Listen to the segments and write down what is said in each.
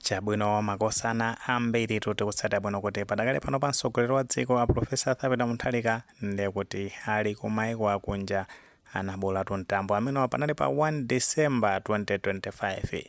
Chabwino, makosana ambiritu tikutsatira bwino kuti padakali pano pa mtsogoleri wa dziko a Professor Arthur Peter Mutharika ndiye kuti ali ku maiko akunja anabolatu mtambo amenewa panali pa 1 December 2025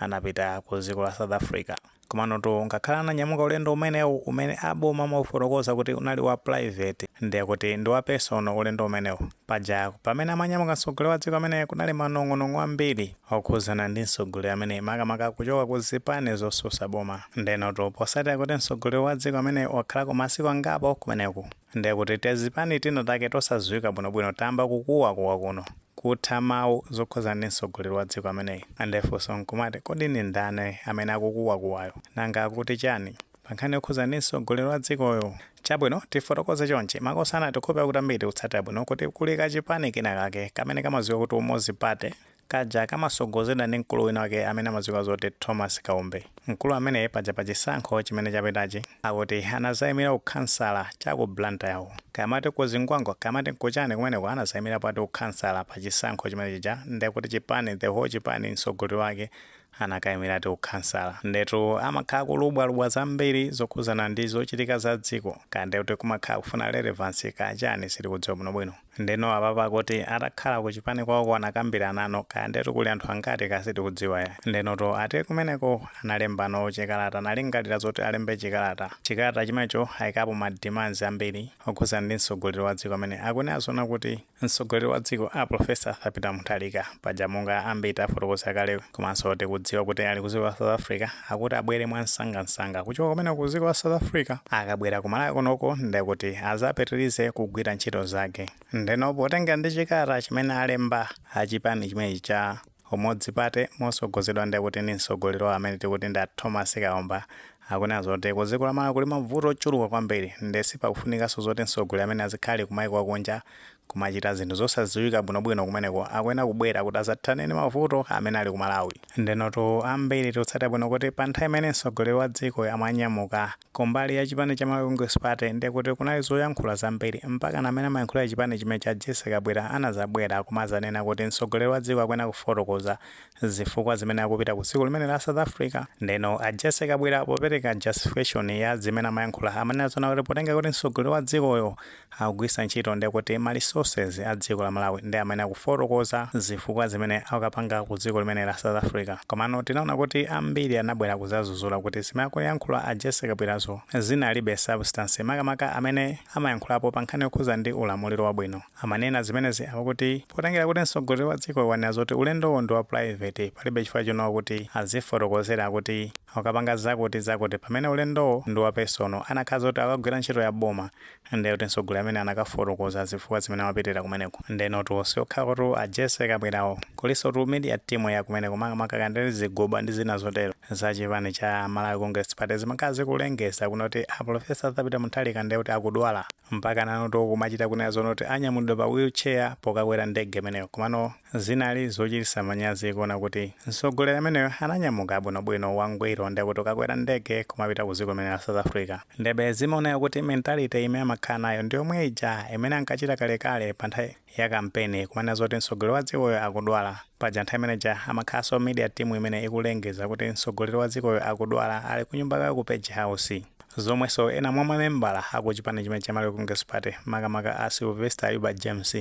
anapita ku dziko la South Africa komanotu ngakhale ananyamuka ulendo umenewu umene aboma amaufotokoza kuti unali wa private ndiye kuti ndi wa personal ulendo umenewu Paja pamene amanyamuka mtsogoleri wa dziko ameneyu kunali manong'onong'o ambiri okhuzana ndi mtsogoleri ameneyu makamaka kuchoka ku zipani zotsutsa boma. Ndenotu potsatira kuti mtsogoleri wa dziko ameneyu wakhalako masiku angapo kumeneko ndiye kuti tizipani tina take tosadziwika bwino bwino tayamba kukuwa kuwa kuno kutha mau zokhuzana ndi mtsogoleri wa dziko ameneyu nde funso nkumati kodi ndi ndani amene akukuwa kuwayo? Nanga akuti chani? pankhani yokhuzana ndi mtsogoleri wa dzikoyu. Chabwino tifotokoze chonchi, makosana tikukhulupirira kuti ambiri tikutsatira bwino kuti kuli ka chipani kina kake kamene kamadziwika kuti Umodzi Party, kaja kamatsogozedwa ndi mkulu wina wake amene amadziwika zoti Thomas Kaumbe. Mkulu ameneyi paja pa chisankho chimene chapitachi akuti anadzayimira u khansala cha ku Blantyre uku. Kaya amati ku Zingwangwa kaya amati kuchani kumeneko anadzayimirapo ati u khansala pa chisankho chimene chija nde kuti chipani the whole chipani mtsogoleri wake anakaimira ati ukhansala ndetu amakhala kulubwalubwa zambiri zokhuzana ndi zochitika za dziko kaya ndi kuti kumakhala kufuna relevance kaya chani sitikudziwa bwinobwino ndeno apapa kuti atakhala kuchipani kwawoko anakambirana no kaya ndetu kuli anthu angati kaya sitikudziwa ayi ndenotu ati kumeneko analembano chikalata analingalira zoti alembe chikalata chikalata chimenecho ayikapo ma demands ambiri okhuzana ndi mtsogoleri wa dziko amene akunena zoona kuti Mtsogoleri wa dziko a Professor Arthur Peter Mutharika paja monga ambiri tafotokoza kale komanso tikudziwa kuti ali ku dziko la South Africa akuti abwere mwamsangamsanga kuchoka kumeneko ku dziko la South Africa akabwera ku Malawi kunoko ndekuti azapitirize kugwira ntchito zake ndeno potengera ndi chikalata chimene alemba a chipani chimenechi cha Umodzi Party motsogozedwa ndi kuti ndi msogoleri wawo amene tikuti ndi a Thomasi Kaumbe akunena zoti ku dziko la Malawi kuli mavuto ochuluka kwambiri nde sipakufunikanso zoti msogoleri ameneyu azikhala ali ku maiko akunja kumachita zinthu zosadziwika bwinobwino kumeneko akuyenera kubwera kuti azathane ndi mavuto amene ali ku Malawi. Ndenotu ambiri tikutsatira bwino kuti pa nthawi imene msogoleri wa dziko amanyamuka, Kumbali ya chipani cha Malawi Congress Party ndekuti kunali zoyankhula zambiri, mpakana amene amayankhulira chipani chimenechi a Jessie Kabwila anazabwera kumazanena kuti mtsogoleri wa dziko akuyenera kufotokoza zifukwa zimene akupita ku dziko limeneli la South Africa. Ndeno a Jessie Kabwila popereka justification ya zimene amayankhula amanena zoona kuti potenga kuti mtsogoleri wa dzikoyo akugwiritsa ntchito nde kuti ma resources a dziko la Malawi nde amene akufotokoza zifukwa zimene akukapanga ku dziko limene la South Africa komano tinaona kuti ambiri anabwera kuzazuzula kuti zimene akuyankhula a Jessy Kabwirazo zinalibe substance makamaka amene amayankhulapo pa nkhani yokhuza ndi ulamuliro wabwino amanena zimenezi akuti potengera kuti mtsogoleri wa dziko wanena zoti ulendowo ndi wa private palibe chifukwa chonowa kuti azifotokozera kuti akukapanga zakuti zakuti pamene ulendowo ndi wa personal anakakhala zoti akukagwira ntchito ya boma Ndiye kuti mtsogoleri ameneyo anakafotokoza zifukwa zimene amapitira kumeneko. Ndenotu siokhatu a Jessy Kabwirawo, kulinsotu media team ya kumeneko makamaka kaya ndinene zigoba ndi zina zotero za chipani cha Malawi Congress Party zimakhala zikulengeza kunena kuti a Prof. Arthur Peter Mutharika ndiye kuti akudwala mpaka nanotu kumachita kunena zoona kuti anyamulidwa pa wheelchair pokakwera ndege imeneyo. Komano Zinali zochititsa manyazi kuona kuti mtsogoleri ameneyo ananyamuka bwino bwino wangwiro nde kuti akukwera ndege kumapita ku dziko limene la South Africa ndebe zimaoneka kuti mentality ime amakhala nayo ndiyomwe ija imene ankachita kalekale pa nthawi ya kampeni kumanena zoti mtsogoleri wa dzikoyo akudwala paja nthawi imene ija amakhalanso media team imene ikulengeza kuti mtsogoleri wa dzikoyo akudwala ali kunyumba kwake ku Page House zomwenso ena mwa mamembala aku chipani chimene cha Malawi Congress Party makamaka a Sylvester Ayuba James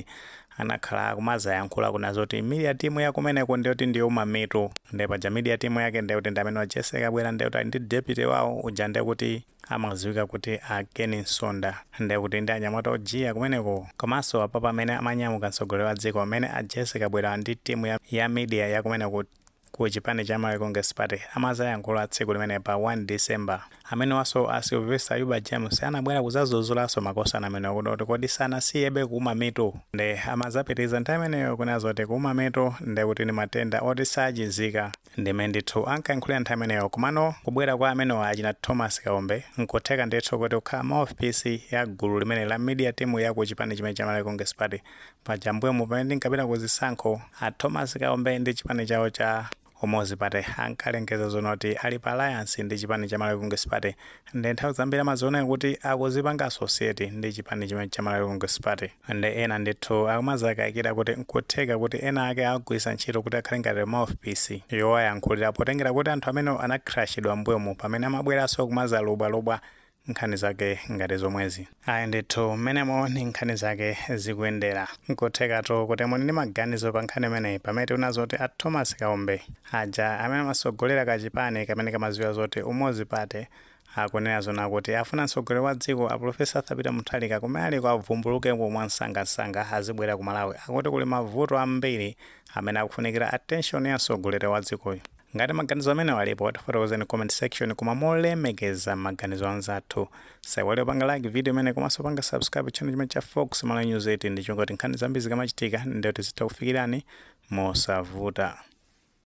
anakhala akumazayankhula kuna zoti media team yakumeneko ndiyoti ndiyouma mitu nde paja media team yake ndeyoti ndi amenewa a Jessy Kabwira ndeyoti ali ndi deputy wawo uja ndekuti amaziwika kuti a Ken Msonda ndekuti ndi anyamata ojiya kumeneko komanso apapa amene amanyamuka mtsogoleri wa dziko amene a Jessy Kabwira ndi timu ya, ya media yakumeneko ku chipani cha Malawi Congress Party amazayankhula tsiku limene pa 1 December. Amenewaso a Sylvester Ayuba James anabwera kuzazuzulaso makosana amenewa kuna kuti kodi sanasiyebe kuuma mitu? Nde amazapitiliza nthawi imeneyo kunena zoti kuuma mitu nde kuti ndi matenda oti sachizika. Ndi mmene ndithu ankayankhulira nthawi imeneyo komano kubwera kwa amenewa achina Thomas Kaumbe nkutheka ndithu kuti kukhala mouthpiece ya gulu limeneli la media team ya ku chipani chimene cha Malawi Congress Party Paja mmbuyomu pamene tinkapita ku zisankho, a Thomas Kaumbe ndi chipani chawo cha Umodzi Party ankalengeza zonoti ali pa alliance ndi chipani cha Malawi Congress Party nde nthawi zambiri amazioneka kuti akudzipanga associate ndi chipani chimenechi cha Malawi Congress Party. Nde ena ndithu akumadzakaikira kuti n'kutheka kuti ena ake awagwiritsa ntchito kuti akhale ngati mouthpiece yowayankhulira potengera kuti anthu amenewo anacrashidwa mmbuyomu pamene amabweranso kumadzalubwalubwa nkhani zake ngati zomwezi? Ayi ndithu, mmenemo nde nkhani zake zikuyendela. N'kuthekatu kuti muli ndi maganizo pa nkhani imeneyi pamene tiona zoti a Thomas Kaumbe aja amene amatsogolela kacipani kamene kamadziwika zoti Umodzi Party akunena zoona kuti afuna mtsogoleri wa dziko a Pulofesa Arthur Peter Mutharika kumene aliko avumbulukeko mwamsangamsanga azibwela ku Malawi. Akuti kuli mavuto ambili amene akufunikila attention ya mtsogoleri wa dzikoyu. Ngati maganizo amenewa alipo, tifotokozeni ku comment section koma molemekeza maganizo anzathu. Saiwale kupanga like video imeneyi komanso panga subscribe channel chimene cha Fox Malawi News 8 ndicholinga choti nkhani zambiri zikamachitika ndiye tizitha kufikirani mosavuta.